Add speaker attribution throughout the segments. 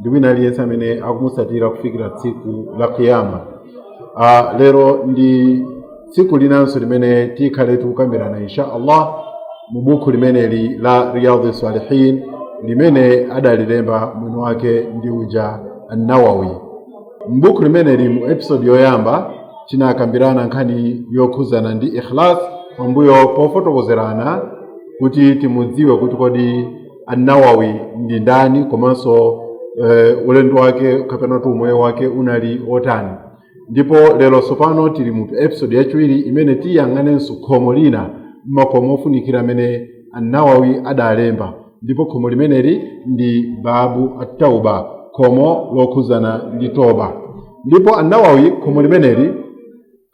Speaker 1: ndi wina aliyense amene akumutsatira kufikira tsiku la kiyama Ah, lero ndi tsiku linanso limene tikhale tikukambirana insha allah mu buku limeneli la riyadhi salihin limene adalilemba mwini wake ndi uja annawawi m'buku limeneli mu episodi yoyamba tinakambirana nkhani yokhuzana ndi ikhlas pambuyo pofotokozerana kuti timudziwe kuti kodi annawawi ndi ndani komanso eh, ulendo wake kapena kuti umoyo wake unali otani ndipo lero tsopano tili mu episode yachiwiri imene tiyang'anenso khomo lina m'makomo ofunikira amene annawawi adalemba ndipo khomo limeneli ndi babu attauba khomo lokhuzana ndi toba ndipo annawawi khomo limeneli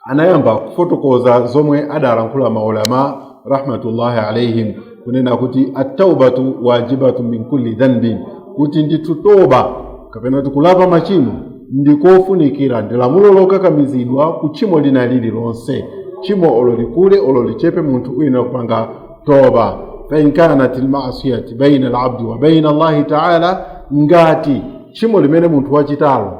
Speaker 1: anayamba kufotokoza zomwe adalankhula maulama rahmatullahi alaihim kunena kuti attaubatu wajibatu min kulli dhanbin kuti ndithu toba kapena kuti kulapa machimo ndikofunikira ndi lamulo lokakamizidwa ku tchimo lina lililonse tchimo olo likule olo lichepe munthu uyenera kupanga toba fain kanat lmasiyati baina alabdi wa baina allahi taala ngati tchimo limene munthu wachitalo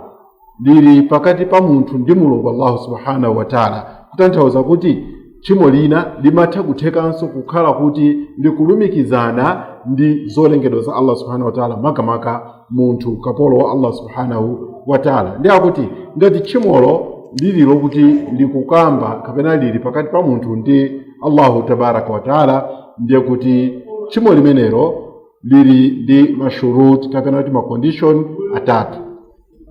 Speaker 1: lili pakati pa munthu ndi mulungu allahu subhanahu wataala kutanthauza kuti tchimo lina limatha kuthekanso kukhala kuti likulumikizana ndi zolengedwa za allah subhanahu wataala makamaka munthu kapolo wa allah subhanahu wataala ndi akuti ngati tchimolo lili lokuti likukamba kapena lili pakati pa munthu ndi allahu tabaraka wataala ndiye kuti tchimo limenelo lili ndi mashurut kapena kuti macondition atatu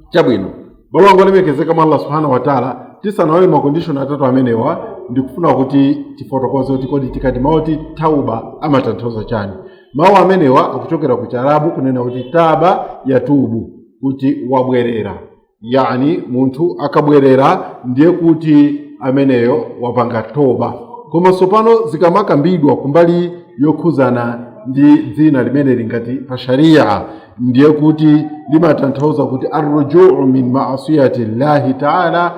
Speaker 1: chabwino abale anga olemekezeka mwa allah subhanahu wataala tisanaone makondishoni atatu amenewa ndikufuna kuti tifotokoze kuti kodi tikati mawu oti tauba amatanthauza chani mawu amenewa akuchokera ku chiarabu kunena kuti taba yatubu kuti wabwerera yani munthu akabwerera ndiye kuti ameneyo wapanga toba koma tsopano zikamakambidwa kumbali yokhuzana ndi dzina limene lingati pa sharia ndiye kuti limatanthauza kuti arrujuu min maasiyati llahi taala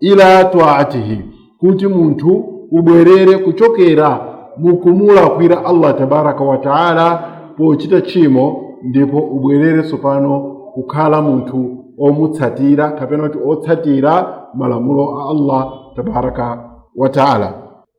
Speaker 1: ila taatihi kuti munthu ubwerere kuchokera mukumulakwira allah tabaraka wa taala pochita tchimo ndipo ubwerere tsopano kukhala munthu omutsatira kapena kuti otsatira malamulo a allah tabaraka wa taala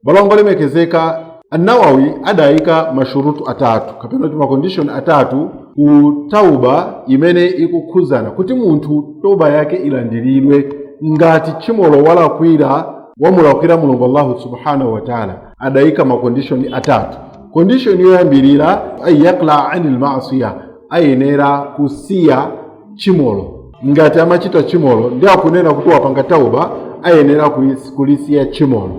Speaker 1: Balongo olemekezeka, An-Nawawi adaika mashurutu atatu kapena kuti makondishoni atatu ku tauba imene ikukhudzana kuti munthu toba yake ilandiridwe ngati tchimolo walakwira wamulakwira mulungu allahu subhanahu wataala adaika makondishoni atatu kondishoni yoyambirira an yuqlia ani lmasiya ayenera kusiya tchimolo ngati amachita tchimolo ndi akunena kuti wapanga tauba ayenera kulis- kulisiya tchimolo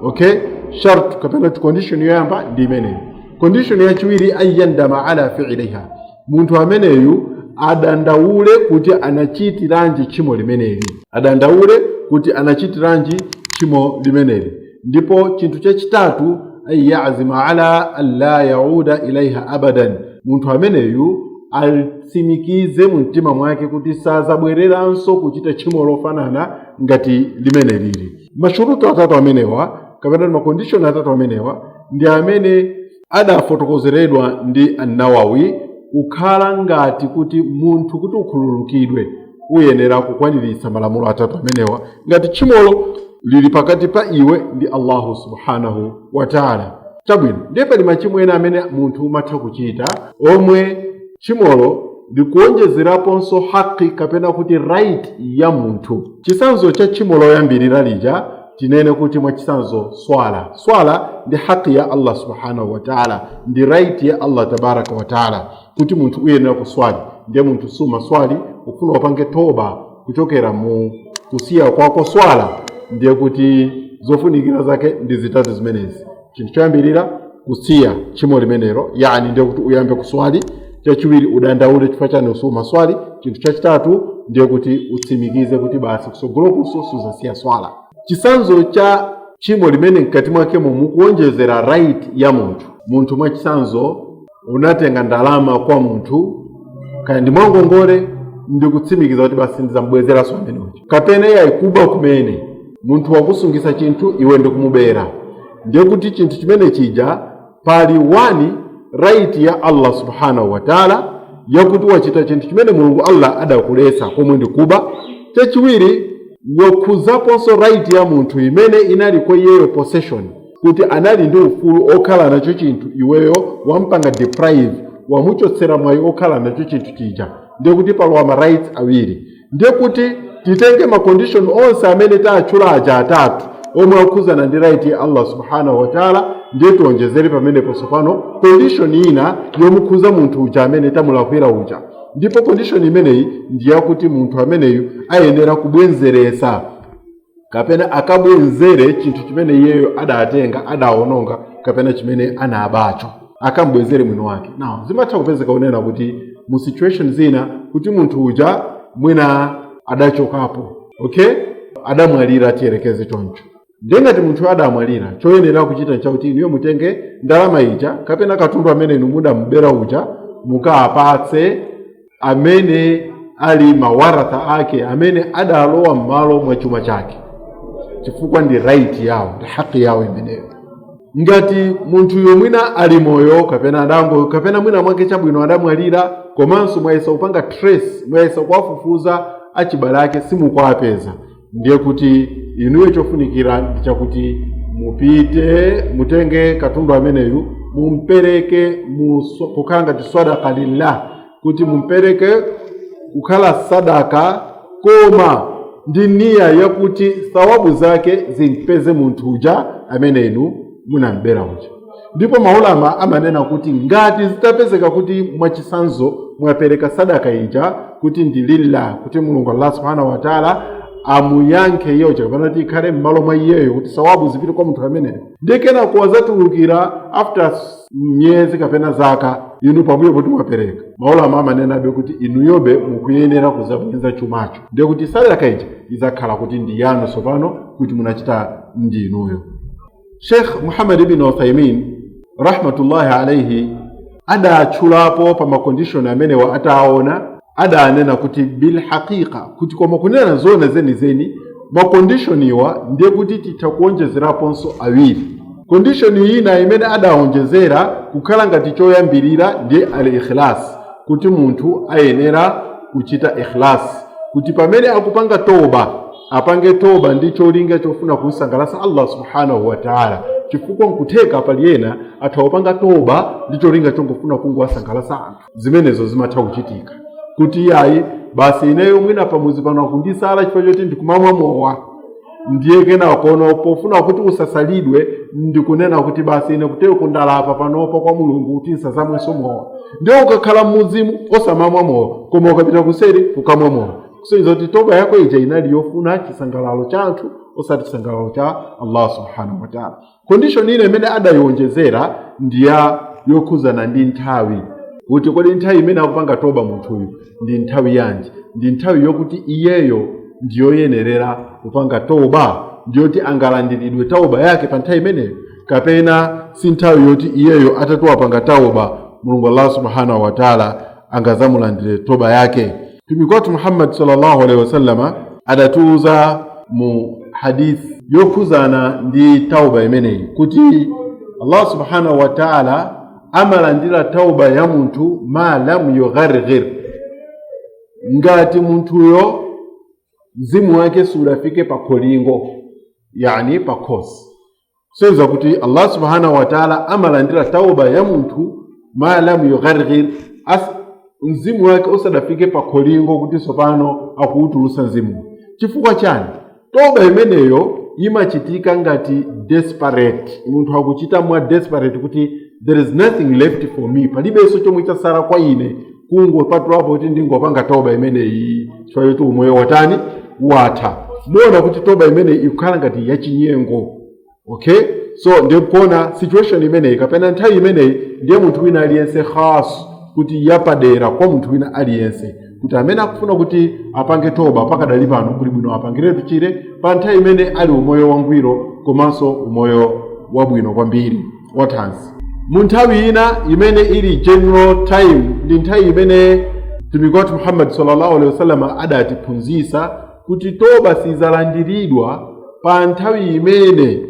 Speaker 1: okay shart kapena kuti condition yoyamba ndi imeneyo condition yachiwiri an yandama ala fiiliha munthu ameneyu adandaule kuti anachitiranji tchimo limeneli adandaule kuti anachitiranji tchimo limeneli ndipo chinthu chachitatu an yazima ala an la yauda ilaiha abadan munthu ameneyu atsimikize mu mtima mwake kuti sazabwereranso kuchita tchimo lofanana ngati limeneli mashurutu atatu amenewa kapena makondishoni atatu amenewa ndi amene adafotokozeredwa ndi annawawi kukhala ngati kuti munthu kuti ukhululukidwe uyenera kukwaniritsa malamulo atatu amenewa ngati tchimolo lili pakati pa iwe ndi allahu subhanahu wataala chabwino ndiye pali machimo ena amene munthu umatha kuchita omwe tchimolo likuonjezeraponso haki kapena kuti right ya munthu chitsanzo cha tchimo loyambirira lija tinene kuti mwachitsanzo swala swala ndi haki ya allah subhanahu wataala ndi right ya allah tabaraka wataala kuti munthu uyenera kuswali ndiye munthu sumaswali ukufuna upange toba kuchokera mu kusiya kwako swala ndiye kuti zofunikira zake ndi zitatu zimenezi chinthu choyambirira kusiya tchimo limenelo yani ndiye kuti uyambe kuswali chachiwiri udandaule chifukwa chani sumaswali chinthu chachitatu ndiye kuti utsimikize kuti basi kutsogolo kuno suzasiya swala chitsanzo cha tchimo limene mkati mwakemo mukuonjezera right ya munthu munthu mwachitsanzo unatenga ndalama kwa munthu kaya ndi mwangongole ndikutsimikiza kuti basi sindizambwezeranso amene uja kapena iyayi kuba kumene munthu wakusungisa chinthu iwe ndikumubera ndiye kuti chinthu chimene chija pali wani right ya allah subhanahu wa taala yakuti wachita chinthu chimene mulungu allah adakuletsa komwe ndi kuba chachiwiri wakhuzaponso right ya munthu imene inali kwa iyeyo possession kuti anali ndi ufulu okhala nacho chinthu iweyo wampanga deprive wamuchotsera mwayi okhala nacho chinthu chija ndiye kuti palowa ma rights awiri ndiye kuti titenge ma condition onse amene taatchula aja atatu omwe akhudzana ndi right ya allah subhanahu wataala ndiye tionjezere pamenepo tsopano condition ina yomukhudza munthu uja amene tamulakwira uja ndipo condition imeneyi ndi yakuti munthu ameneyu ayenera kubwenzeretsa kapena akabwenzere chinthu chimene iyeyo adatenga adawononga kapena chimene anabacho akambwenzere mwini wake now zimatha kupezeka kunena kuti mu situation zina kuti munthu uja mwina adachokapo okay adamwalira tiyerekeze choncho ndiye ngati munthu adamwalira choyenera kuchita nchakuti inuyo mutenge ndalama ija kapena katundu amene inu mudamubera uja mukapatse amene ali mawaratha ake amene adalowa m'malo mwa chuma chake chifukwa ndi right yawo ndi haki yawo imeneyo ngati munthuyo mwina ali moyo kapena adango kapena mwina mwake chabwino adamwalira komanso mwayesa kupanga trace mwayesa kuwafufuza achibale ake simukuwapeza ndiye kuti inuyo chofunikira ndi chakuti mupite mutenge katundu ameneyu mumpereke muso- kukhala ngati sadaka lillah kuti mumpereke kukhala sadaka koma ndi niya yakuti sawabu zake zimpeze munthu uja amene inu munambera uja ndipo maulama amanena kuti ngati zitapezeka kuti mwachitsanzo mwapereka sadaka ija kuti ndi lillah kuti mulungu allah subhanahu wataala amuyankhe iyeyo chakapena kuti ikhale m'malo mwa iyeyo kuti sawabu zipite kwa munthu ameneyo ndiye kenako wazatulukira after miyezi kapena zaka inu pambuyo poti mwapereka maulama amanenabe kuti inuyobe mukuyenera kuzabwenza chumacho ndiye kuti sadaka ija izakhala kuti ndi yanu tsopano kuti munachita ndi inuyo sheikh muhammad ibn uthaimin rahmatullahi alaihi adatchulapo pa makondishoni amenewa ataona adanena kuti bilhaqiqa kuti koma kunena zona zenizeni makondishoniwa ndiye kuti titha kuonjezeraponso awiri kondishoni ina imene adaonjezera kukhala ngati choyambirira ndiye al ikhlas kuti munthu ayenera kuchita ikhlas kuti pamene akupanga toba apange toba ndi cholinga chofuna kumsangalatsa allah subhanahu wa taala chifukwa nkutheka pali ena atha kupanga toba ndi cholinga chongofuna kungowasangalatsa anthu zimenezo zimatha kuchitika kuti iyayi basi ineyo mwina pamuzi pano akundisala chifukwa choti ndikumamwa mowa ndiye kenako no pofuna kuti usasalidwe ndikunena kuti basi ine kuteroku ndalapa panopa kwa mulungu kuti nsazamwenso mowa ndiye ukakhala mmuzimo osamamwa mowa koma ukapita kuseri kukamwa mowa kusonyeza kuti toba yako ija inali yofuna chisangalalo cha anthu osati chisangalalo cha allah subhanahu wataala condition ina imene adayionjezera ndi ya yokhuzana ndi nthawi kuti kodi nthawi imene akupanga toba munthuyu ndi nthawi yanji ndi nthawi yokuti iyeyo ndiyoyenerera kupanga toba ndiyoti angalandiridwe tauba yake pa nthawi imeneyo kapena si nthawi yoti iyeyo atati wapanga tauba mulungu allah subhanahu wataala angazamulandire toba yake mtumiki wathu muhammad sallallahu alaihi wasallama adatiuza mu hadith yokhuzana ndi tauba imeneyi kuti allah subhanahu wa taala amalandira tauba ya munthu ma lam yugharghir ngati munthuyo mzimu wake sudafike pa kholingo yani pa khosi kusonyeza kuti allah subhanahu wataala amalandira tauba ya munthu ma lam yugharghir mzimu wake usadafike pa kholingo kuti tsopano akuwutulutsa mzimu chifukwa chani toba imeneyo imachitika ngati desperate munthu akuchita mwa desperate kuti there is nothing left for me palibenso chomwe chasala kwa ine kungopatulapo kuti ndingopanga toba imeneyi chifukwa choti umoyo watani watha muona kuti toba imeneyi ikukhala ngati yachinyengo okay so ndikuona situation imeneyi kapena nthawi imeneyi ndiye munthu wina aliyense khas kuti yapadera kwa munthu wina aliyense kuti amene akufuna kuti apange toba pakadali pano kuli bwino apangiretu chire pa nthawi imene ali umoyo wangwiro komanso umoyo wabwino kwambiri wathanzi mu nthawi ina imene ili general time ndi nthawi imene mtumiki wathu muhammad sallallahu alaihi wasallam adatiphunzitsa kuti toba sizalandiridwa pa nthawi imene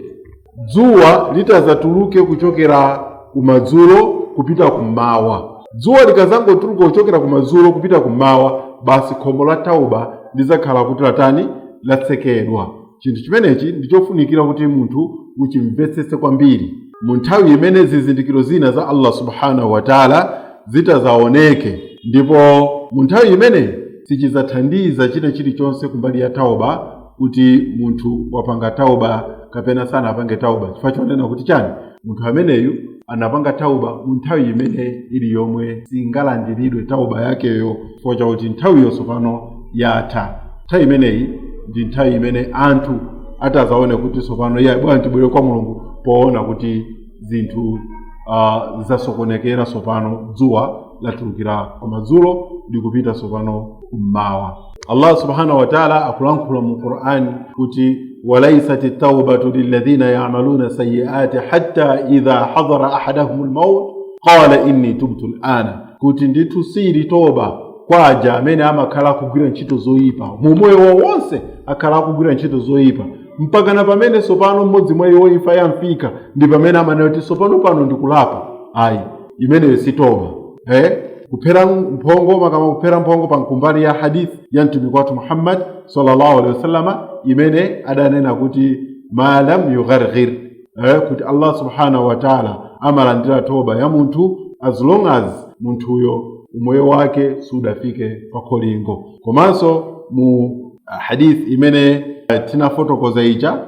Speaker 1: dzuwa litazatuluke kuchokera kumadzulo kupita kummawa dzuwa likazangotuluka kuchokera kumadzulo kupita kummawa basi khomo la tauba lizakhala kuti latani latsekedwa Chinthu chimenechi ndi chofunikira kuti munthu uchimvetsetse kwambiri. Mu nthawi imene zizindikiro zina za Allah subhanahu wa ta'ala zitazaoneke, ndipo mu nthawi imeneyi sichizathandiza china chilichonse kumbali ya tauba kuti munthu wapanga tauba kapena sanapange tauba chifukwa chonena kuti chani munthu ameneyu anapanga tauba mu nthawi imene ili yomwe singalandiridwe tauba yakeyo chifukwa chakuti nthawiyo tsopano yatha nthawi imeneyi ndi nthawi imene anthu atazaone kuti tsopano iye bwana tibwere kwa mulungu poona kuti zinthu uh, zasokonekera tsopano dzuwa latulukira kumadzulo likupita tsopano kummawa allah subhanahu wataala akulankhula mu qur'ani kuti walaisat taubatu liladhina yamaluna sayiati hatta idha hadara ahadahum lmaut qala inni tubtu lana kuti ndithu sili toba kwa aja amene amakhala akugwira ntchito zoyipa mu moyo wawo wonse akhala akugwira ntchito zoyipa mpakana pamene sopano mmodzi mwa iwo imfa yamfika ndi pamene amanena kuti sopano pano ndikulapa ayi imeneyo si toba eh? kuphera mphongo makama kuphera mphongo pansi kumbali ya hadith ya mtumiki wathu muhammad sallallahu alaihi wasallama imene adanena kuti ma lam yugharghir eh? kuti allah subhanahu wa taala amalandira toba ya munthu as long as munthuyo umoyo wake sudafike pa kholingo komanso mu ah, hadith imene eh, tinafotokoza ija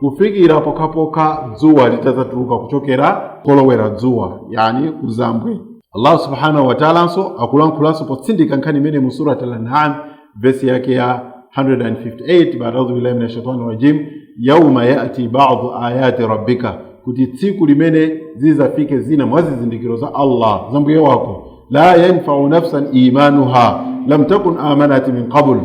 Speaker 1: kufikira pokhapokha dzuwa litadzatuluka kuchokera kolowera dzuwa yani kuzambwe allah subhanahu wataalanso akulankhulanso potsindika nkhani imeneyi mu surat al-an'am vesi yake ya 158 baadaudhu billahi min ashaitani rajim yauma yati badu ayati rabbika kuti tsiku limene zizafike zina mwa zizindikiro za allah za mbuye wako la yanfau nafsan imanuha lam takun amanat min qabl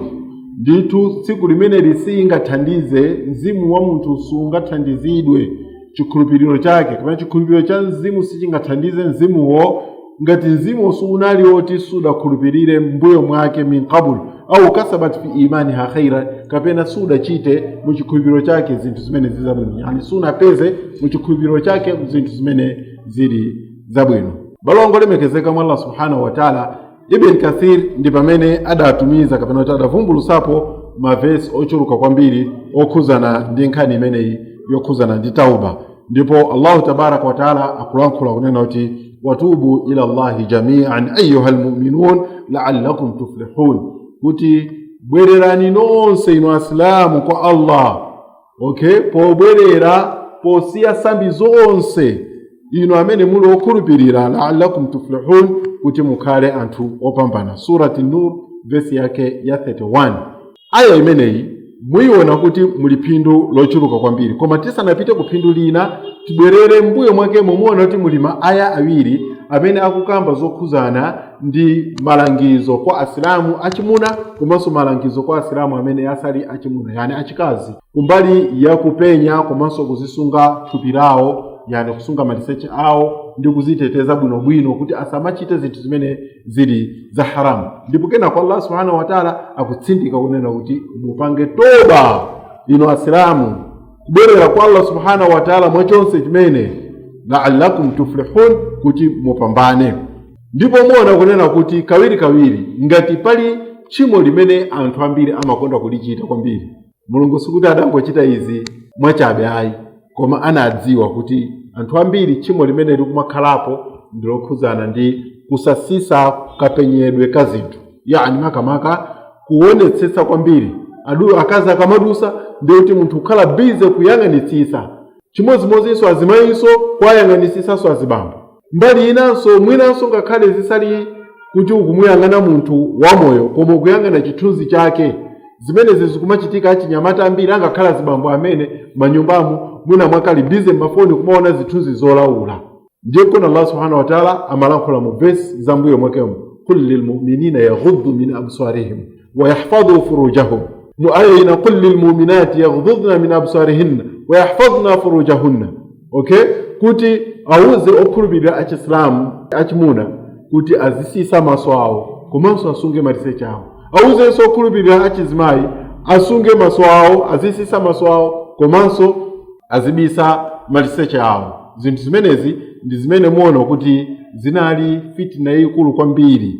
Speaker 1: ndithu tsiku limenelo siingathandize mzimu wa munthu sungathandizidwe chikhulupiriro chake kapena chikhulupiriro cha mzimu sichingathandize mzimuwo ngati mzimuwo sunali woti sudakhulupirire m'mbuyo mwake min qablu au kasabat fi imaniha khaira kapena sudachite mu chikhulupiriro chake zinthu zimene zili zabwino yani sunapeze mu chikhulupiriro chake zinthu zimene zili zabwino abale anga olemekezeka mwa allah subhanahu wataala ibn kathir ndi pamene adatumiza kapena kuti adavumbulusapo mavesi ochuluka kwambiri okhuzana ndi nkhani imeneyi yokhuzana ndi tauba ndipo allahu tabaraka wataala akulankhula kunena kuti watubu ila llahi jamian ayuha lmuminun laalakum tuflihun kuti bwererani nonse inu asilamu kwa allah okay pobwerera posiya sambi zonse inu amene muli okhulupirira laalakum tuflihun kuti mukhale anthu opambana surati nur vesi yake ya 31 aya imeneyi muyiona kuti muli phindu lochuluka kwambiri koma tisanapite ku phindu lina tibwerere m'mbuyo mwakemo muona kuti muli ma aya awiri amene akukamba zokhuzana ndi malangizo kwa asilamu achimuna komanso malangizo kwa asilamu amene asali achimuna yani achikazi kumbali ya kupenya komanso kuzisunga thupi lawo yani kusunga maliseche awo ndi kuziteteza bwinobwino kuti asamachite zinthu zimene zili za haramu ndipo kenako allah subhanahu wataala akutsindika kunena kuti mupange toba inu asilamu kubwerera kwa allah subhanahu wataala mwachonse chimene laalakum tuflihun kuti mupambane ndipo muona kunena kuti kawirikawiri ngati pali tchimo limene anthu ambiri amakonda kulichita kwambiri mulungu sikuti adangochita izi mwachabe ayi koma anadziwa kuti anthu ambiri tchimo limene likumakhalapo ndilokhuzana ndi kusatsitsa kapenyedwe ka zinthu yani makamaka kuonetsetsa kwambiri akazi akamadutsa ndiye kuti munthu kukhala busy kuyang'anitsitsa chimodzimodzinso azimayinso kuwayang'anitsitsanso azibambo mbali inanso mwinanso ngakhale zisali kuti ukumuyang'ana munthu wamoyo koma ukuyang'ana chithunzi chake zimenezi zikumachitika achinyamata ambiri angakhale azibambo amene mmanyumbamo mwina amakhala bize mmafoni kumaona zithunzi zolaula ndiye kuona allah subhanahu wa taala amalankhula mu vesi za mmbuyo mwakemo kul lilmuminina yaghuddu min absarihim wayahfadhu furujahum mu aya ina kul lilmuminati yaghdudna min absarihinna wayahfadhna furujahunna okay kuti awuze okhulupirira achisilamu achimuna kuti azitsitsa maso awo komanso asunge maliseche awo awuzenso okhulupirira achizimayi asunge maso awo azitsitsa maso awo komanso azibisa maliseche awo zinthu zimenezi ndi zimene muona kuti zinali fitina yayikulu kwambiri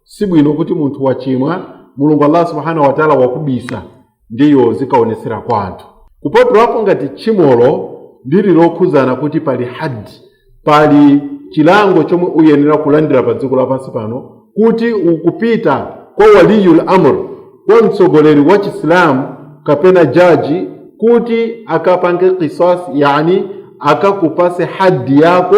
Speaker 1: si bwino kuti munthu wachimwa mulungu allah subhanahu wataala wakubisa ndiye uzikaonetsera kwa anthu kupatulapo ngati tchimolo lili lokhuzana kuti pali haddi pali chilango chomwe uyenera kulandira pa dziko lapansi pano kuti ukupita kwa waliyul amr kwa mtsogoleri wa chisilamu kapena jaji kuti akapange kisasi yani akakupatse haddi yako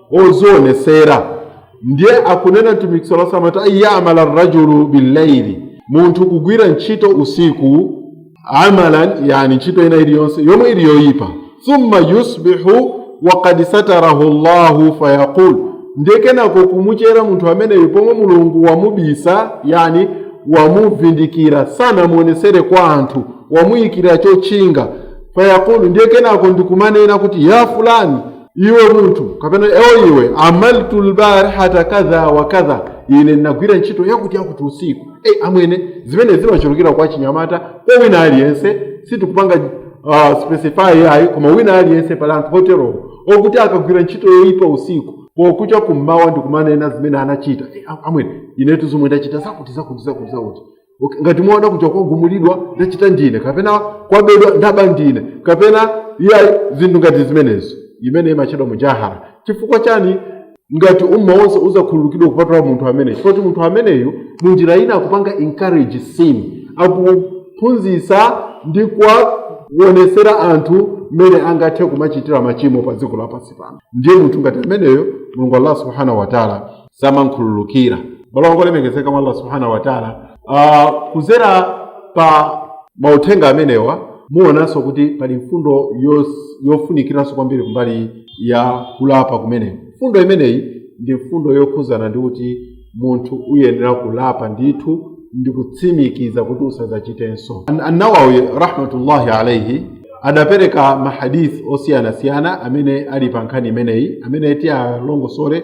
Speaker 1: ozionetsera ndiye akunena mtumiki sala salam ati ayamala rajulu billaili munthu kugwira ntchito usiku amalan yani ntchito ina iliyonse yomwe ili yoyipa thumma yusbihu wakad satarahu llahu fayaqul ndiye kenako kumuchera munthu ameneyo pomwe mulungu wamubisa yani wamuvindikira sanamuonetsere kwa anthu wamuyikira chotchinga fayaqulu ndiye kenako ndikumanena kuti ya fulani iwe munthu kapena eeh iwe amiltu lbarihata kadha wa kadha ine ndinagwira ntchito yakuti yakuti usiku e amwene zimene zimachulukira kwa achinyamata kwa wina aliyense sitikupanga uh, specify ayi koma wina aliyense pali anthu oterowo okuti akagwira ntchito yoyipa usiku pokucha kummawa ndikumanena zimene anachita e, amwene inetu zomwe ndachita zakuti zakuti zakuti zakuti Okay, ngati mwaona kuja kwagumulidwa ndachita ndine kapena kwabedwa ndaba ndine kapena iyayi zinthu ngati zimenezo zimene zimatchedwa mujahara chifukwa chani ngati umma wonse uzakhululukidwa kupatula munthu ameneyo chifukwa kuti munthu ameneyu mu njira ina akupanga encourage sin akuphunzitsa ndi kuwaonetsera anthu mmene angathe kumachitira machimo pa dziko lapansi pano ndiye munthu ngati ameneyo mulungu allah subhanahu wataala samankhululukira abale anga olemekezeka mwa allah subhanahu wataala uh, kuzera pa mauthenga amenewa muonanso kuti pali mfundo yos- yofunikiranso kwambiri kumbali ya kulapa kumeneku mfundo imeneyi ndi mfundo yokhuzana ndi kuti munthu uyenera kulapa ndithu ndi kutsimikiza kuti usadzachitenso An- annawawi rahmatullahi alaihi adapereka mahadithi osiyanasiyana amene ali pa nkhani imeneyi amene tiyalongosole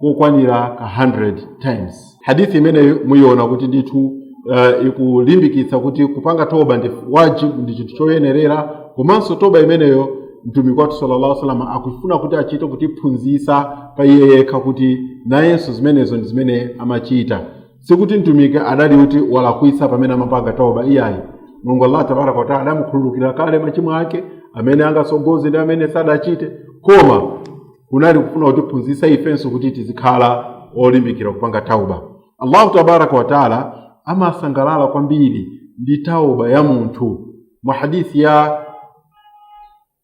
Speaker 1: kokwanira ka 100 times hadithi imeneyi muyiona kuti ndithu uh, ikulimbikitsa kuti kupanga toba ndi wajibu ndi chinthu choyenerera komanso toba imeneyo mtumiki wathu sallallahu alaihi wasallama akufuna kuti achite kutiphunzitsa pa iye yekha kuti nayenso zimenezo ndi zimene amachita sikuti mtumiki adali kuti walakwitsa pamene amapanga toba iyayi mulungu allah tabaraka wataala adamukhululukira kale machimo ake amene angatsogoze ndi amene sadachite koma kunali kufuna kutiphunzitsa ifenso kuti tizikhala olimbikira kupanga tauba allah tabaraka wataala amasangalala kwambiri ndi tauba ya munthu mu hadithi ya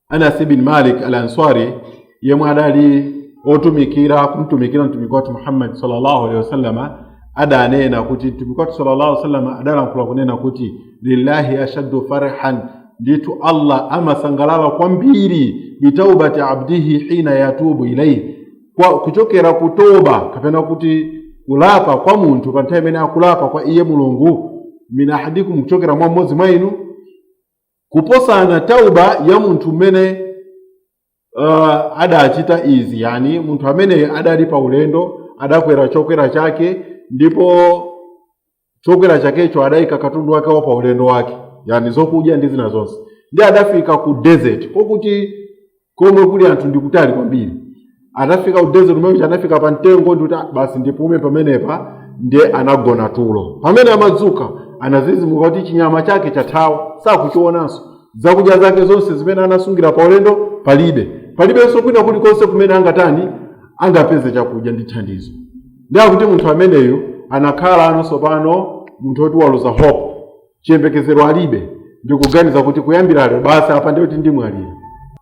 Speaker 1: anas bin malik al ansari yemwe adali otumikira kumtumikira mtumiki wathu muhammadi sallallahu alaihi wasallama adanena kuti mtumiki wathu sallallahu alaihi wasallama adalankhula kunena kuti lillahi ashaddu farhan ndithu allah amasangalala kwambiri bitaubati abdihi hina yatubu ilaihi kwa kuchokera ku toba kapena kuti kulapa kwa munthu pa nthawi imene akulapa kwa iye mulungu min ahadikum kuchokera mwa mmodzi mwa inu kuposana tauba ya munthu mmene uh, adachita izi yani munthu amene adali pa ulendo adakwera chokwera chake ndipo chokwera chakecho adayika katundu wake wa pa ulendo wake yani zokudya ndi zina zonse ndiye adafika ku desert kokuti komwe kuli anthu ndi kutali kwambiri adafika ku desert mmene anafika pa mtengo ndikuti "Ah, basi ndipume pamenepa ndiye anagona tulo pamene amadzuka anadzidzimuka kuti chinyama chake chathawa sakuchionanso zakudya zake zonse zimene anasungira pa ulendo palibe palibenso kwina kulikonse kumene angatani angapeze chakudya ndi thandizo ndiye akuti munthu ameneyu anakhalano tsopano munthu woti waluza hope chiyembekezero alibe ndikuganiza kuti kuyambira lero basi apa ndiye kuti ndimwalira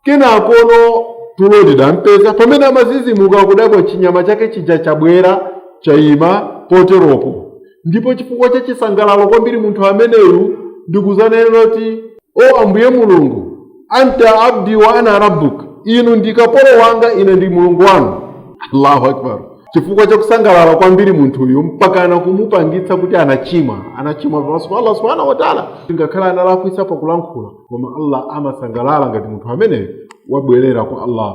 Speaker 1: kenakono tulo lidampeza pamene amadzidzimuka kudabwa chinyama chake chija chabwera chayima poteropo ndipo chifukwa cha chisangalalo kwambiri munthu ameneyu ndikudzanena kuti o ambuye mulungu anta abdi wa ana rabbuk inu ndi kapolo wanga ine ndi mulungu wanu allahu akbar chifukwa cha kusangalala kwambiri munthuyu mpakana kumupangitsa kuti anachimwa anachimwa pamaso pa allah subhanahu wataala ngakhale analakwitsa pakulankhula koma allah amasangalala ngati munthu ameneyo wabwerera kwa allah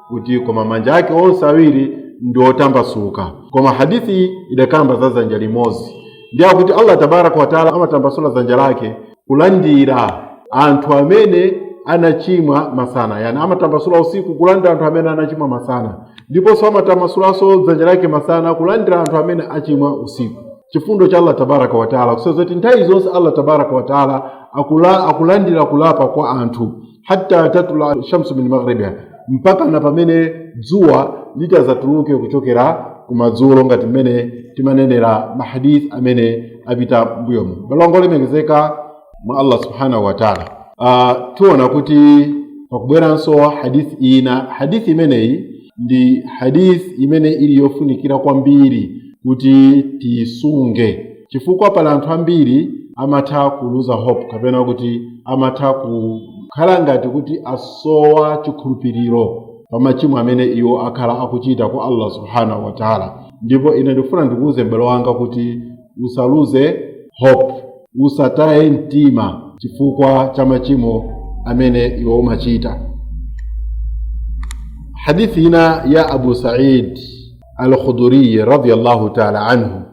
Speaker 1: kuti koma manja ake onse awiri ndi otambasuka koma hadithi idakamba za dzanja limodzi ndiye akuti allah tabaraka wataala amatambasula dzanja lake kulandira anthu amene anachimwa masana yani amatambasula usiku kulandira anthu amene anachimwa masana ndiponso amatambasulanso dzanja lake masana kulandira anthu amene achimwa usiku chifundo cha allah tabaraka wataala kusonyeza zoti nthawi zonse allah tabaraka wataala akula, akulandira kulapa kwa anthu hatta tatula shamsu min maghribiha mpaka na pamene dzuwa litazatuluke kuchokera kumadzulo ngati mmene timanenera mahadith amene apita mbuyomu abale ndi alongo olemekezeka mwa allah subhanahu wa taala uh, tiona kuti pakubweranso hadith ina hadith imeneyi ndi hadith imene ili yofunikira kwambiri kuti tiisunge chifukwa pali anthu ambiri amatha kuluza hope kapena kuti amatha kukhala ngati kuti asowa chikhulupiriro pa machimo amene iwo akhala akuchita kwa allah subhanahu wataala ndipo ine ndikufuna ndikuwuze m'bale wanga kuti usaluze hope usataye mtima chifukwa cha machimo amene iwe umachita hadithi ina ya abu said al-khudriyi radiallahu taala anhu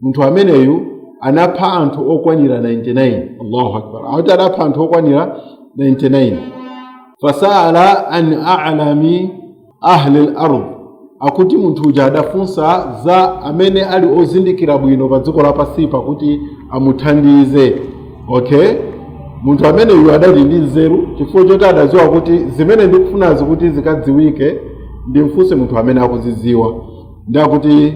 Speaker 1: munthu ameneyu anapha anthu okwanira 99 allahu akbar akuti anapha anthu okwanira 99 fasala an alami ahli lard akuti munthu uja adafunsa za amene ali ozindikira bwino pa dziko lapansi pakuti amuthandize okay munthu ameneyu adali ndi nzeru chifukwa choti adadziwa kuti zimene ndikufunazi kuti zikadziwike ndimfunse munthu amene akuzidziwa ndi akuti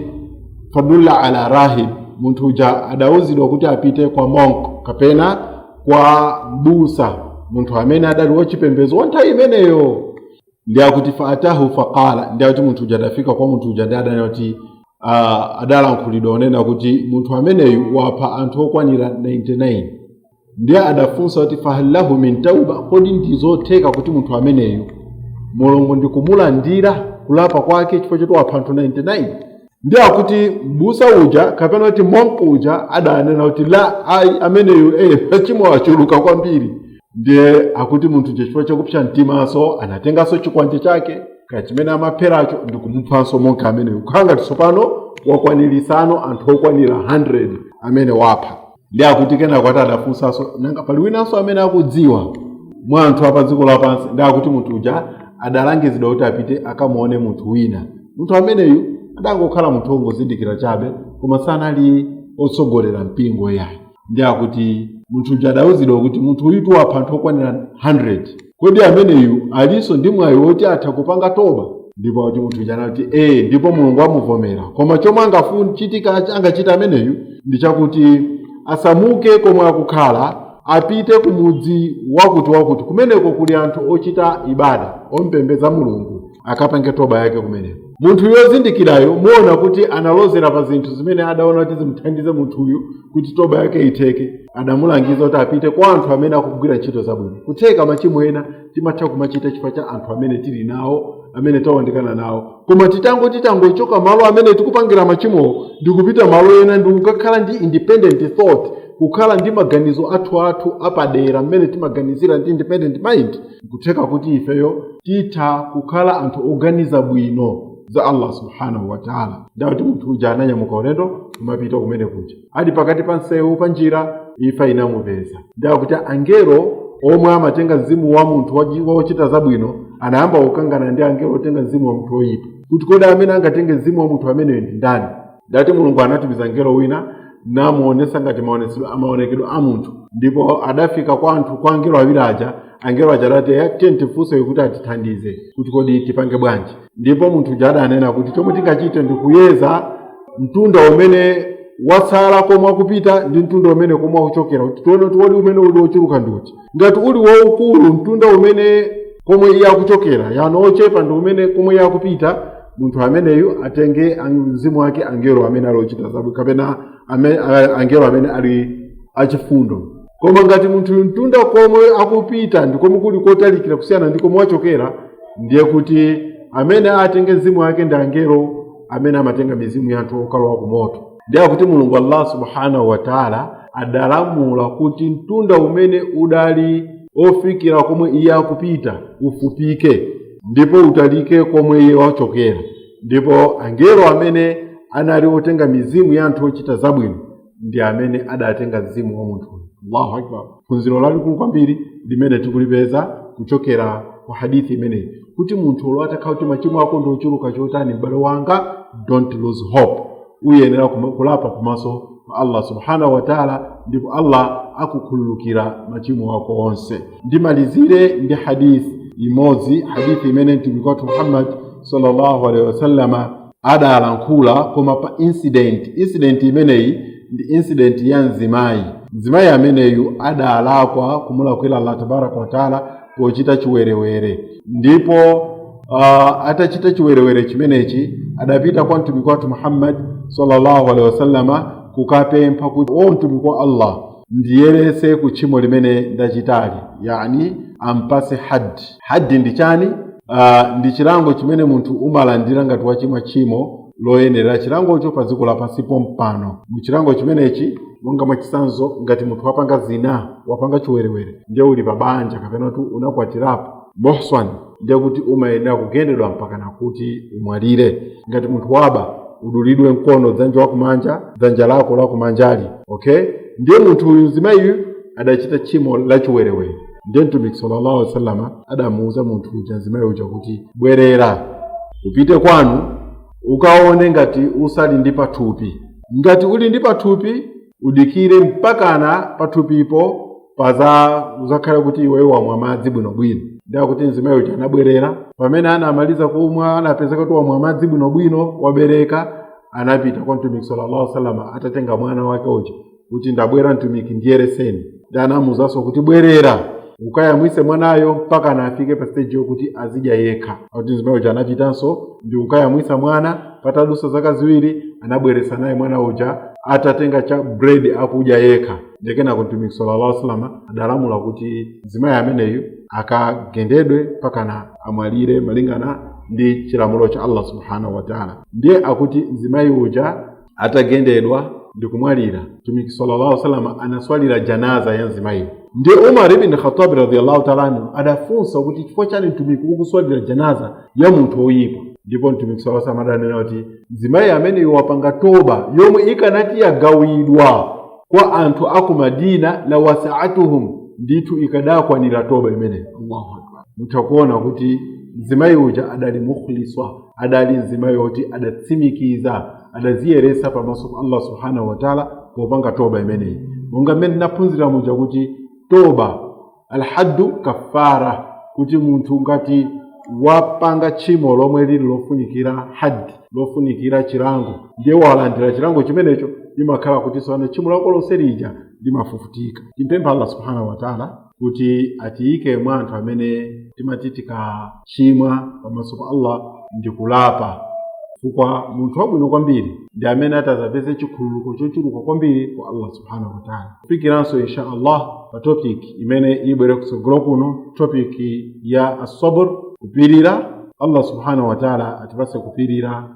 Speaker 1: fadulla ala rahib munthu uja adawuzidwa kuti apite kwa monk kapena kwa mbusa munthu amene adali wachipembedzo wa nthawi imeneyo ndi akuti faatahu faqala ndi akuti munthu uja adafika kwa munthu uja ndi adanena kuti ah, adalankhulidwa kunena kuti munthu ameneyu wapha anthu okwanira 99 ndiye adafunsa kuti fahallahu min tauba kodi ndizotheka kuti munthu ameneyu mulungu ndikumulandira kulapa kwake chifukwa choti wapha anthu 99 ndiye akuti mbusa uja kapena kuti monk uja adanena kuti la ayi ameneyu eh, machimo achuluka kwambiri ndiye akuti munthu uja chifukwa chakupsa mtimanso anatenganso chikwanje chake kaya chimene amapheracho ndikumuphanso monk ameneyu kukhala ngati tsopano wakwanirisanso anthu okwanira 100 amene wapha ndi akuti kenako ati adafunsanso nanga pali winanso amene akudziwa mwa anthu apa dziko lapansi ndi akuti munthu uja adalangizidwa kuti apite akamuone munthu wina munthu ameneyu adangokhala munthu wongozindikira chabe koma sanali otsogolera mpingo yayi ndi akuti munthu uja adawuzidwa kuti munthu uyutu wapha anthu okwanira 100 kodi ameneyu alinso ndi mwayi woti atha kupanga toba ndipo kuti munthu uja anati ee ndipo mulungu amuvomera koma chomwe angachite ameneyu ndi chakuti asamuke komwe akukhala apite ku mudzi wakuti wakuti kumeneko kuli anthu ochita ibada ompembedza mulungu akapange toba yake kumeneko munthuyu ozindikirayo muona kuti analozera pa zinthu zimene adaona kuti zimuthandize munthuyu kuti toba yake itheke adamulangiza kuti apite kwa anthu amene akugwira ntchito zabwino kutheka machimo ena timatha kumachita chifukwa cha anthu amene tili nawo amene tawandikana nawo koma titango titangochoka malo amene tikupangira machimowo ndi kupita malo ena ndi kukhala ndi independent thought kukhala ndi maganizo athu athu apadera mmene timaganizira ndi independent mind kutheka kuti ifeyo titha kukhala anthu oganiza bwino za allah subhanahu wataala ndiye akuti munthu uja ananyamuka ulendo kumapita kumeneko kuja ali pakati pa msewu pa njira imfa inamupeza ndiye akuti angelo omwe amatenga mzimu wa munthu wachi- wochita zabwino anayamba kukangana ndi angelo otenga mzimu wa munthu woyipa kuti kodi amene angatenge mzimu wa munthu ameneyo ndi ndani ndiye akuti mulungu anatumiza mngelo wina namuonesa ngati maonesedwe- amaonekedwe a munthu ndipo adafika kwa anthu kwa angelo awiri aja angelo aja adati "Eh, tiyeni tifunse kuti atithandize kuti kodi tipange bwanji ndipo munthu uja adanena kuti chomwe tingachite ndi kuyeza mtunda umene watsala komwe akupita ndi mtunda umene komwe akuchokera kuti tione kuti kodi umene uli wochuluka ndi uti ngati uli waukulu mtunda umene komwe iye akuchokera yani ochepa ndi umene komwe iye akupita munthu ameneyu atenge ang- mzimu wake angelo amene ali ochita zabwino kapena ame- a- angelo amene ali achifundo koma ngati munthuyu mtunda komwe akupita ndi komwe kuli kotalikira kusiyana ndi komwe wachokera ndiye kuti amene atenge mzimu wake ndi angelo amene amatenga mizimu ya anthu okalowa ku moto ndiye akuti mulungu allah subhanahu wa taala adalamula kuti mtunda umene udali ofikira komwe iye akupita ufupike ndipo utalike komwe iye wachokera ndipo angelo amene anali otenga mizimu ya anthu ochita zabwino ndi amene adatenga mzimu wa munthuyo allahu akbar phunziro lalikulu kwambiri limene tikulipeza kuchokera ku hadithi imeneyi kuti munthu olo atakhala kuti machimo ako ndi ochuluka chotani m'bale wanga don't lose hope uyenera kuma- kulapa kumaso kwa allah subhanahu wataala ndipo allah akukhululukira machimo ako onse ndimalizire ndi hadithi imodzi hadithi imene mtumiki wathu muhammad sallallahu alaihi wasallama adalankhula koma pa incident incident imeneyi ndi incident ya mzimayi mzimayi ameneyu adalakwa kumulakwira allah tabaraka wataala pochita chiwerewere ndipo uh, atachita chiwerewere chimenechi adapita kwa mtumiki wathu muhammad sallallahu alaihi wasallama kukapempha kuti o mtumiki wa allah ndiyerese ku tchimo limene ndachitali yani ampase haddi haddi ndi chani uh, ndi chilango chimene munthu umalandira ngati wachimwa tchimo loyenelera chilangocho pa dziko lapansi pompano mu chilango chimenechi monga mwachisanzo ngati munthu wapanga zina wapanga chiwerewere ndiye uli pa banja kapena kuti unakwatirapo mohswan ndiye kuti umayenera kugendedwa mpaka nakuti umwalire ngati munthu waba udulidwe mkono dzanja wakumanja dzanja lako lakumanjali okay ndiye munthu uyu mzimayiyu adachita tchimo lachiwerewere ndiye mtumiki sallallahu alaihi wasallama adamuuza munthu uja mzimayi uja kuti bwerera upite kwanu ukaone ngati usali ndi pathupi ngati uli ndi pathupi udikire mpakana pathupipo paza uzakhale kuti iweyo wamwa madzi bwinobwino ndiye kuti mzimayi uja anabwerera pamene anamaliza kumwa anapezeka kuti wamwa madzi bwinobwino wabereka anapita kwa mtumiki sallallahu alaihi wasallam atatenga mwana wake uja kuti ndabwera mtumiki ndiyereseni ndiye anamuwuzanso kuti bwerera ukayamwitse mwanayo mpakana afike pa stage yokuti azidya yekha akuti mzimayi uja anapitanso ndi kukayamwitsa mwana patadutsa zaka ziwiri anabwereranso naye mwana uja atatenga cha bread akudya yekha nde kenako mtumiki sallallahu alaihi wasallam adalamula kuti mzimayi ameneyu akagendedwe mpakana amwalire malingana ndi chilamulo cha allah subhanahu wataala ndiye akuti mzimayi uja atagendedwa ndi kumwalira mtumiki sallallahu alaihi wasallam anaswalira janaza ya mzimayiyo ndiye umar ibn khattab radhiyallahu ta'ala anhu adafunsa kuti chifukwa chani mtumiki ukuswalira janaza ya munthu woyipa ndipo mtumiki sala salam adanena kuti mzimayi ameneyu wapanga toba yomwe ikanati yagawidwa kwa anthu aku madina la wasaatuhum ndithu ikadakwanira toba imeneyo allahu akbar mutha kuona kuti mzimayi uja adali mukhliswa adali mzimayi woti adatsimikiza adaziyeretsa pamaso pa allah subhanahu wataala popanga toba imeneyi monga mmene tinaphunzira muja kuti toba alhaddu kafara kuti munthu ngati wapanga tchimo lomwe lili lofunikira haddi lofunikira chilango ndiye walandira chilango chimenecho imakhala kuti tsopano tchimo lako lonse lija limafufutika timpempha allah subhanahu wataala kuti atiyike mwa anthu amene timati tikachimwa pamaso pa allah ndi kulapa chifukwa munthu wabwino kwambiri ndi amene atazapeze chikhululuko chochuluka kwambiri kwa allah subhanahu wataala kufikiranso insha allah pa topic imene ibwere kutsogolo kuno topic ya asabr kupirira allah subhanahu wataala atipatse kupirira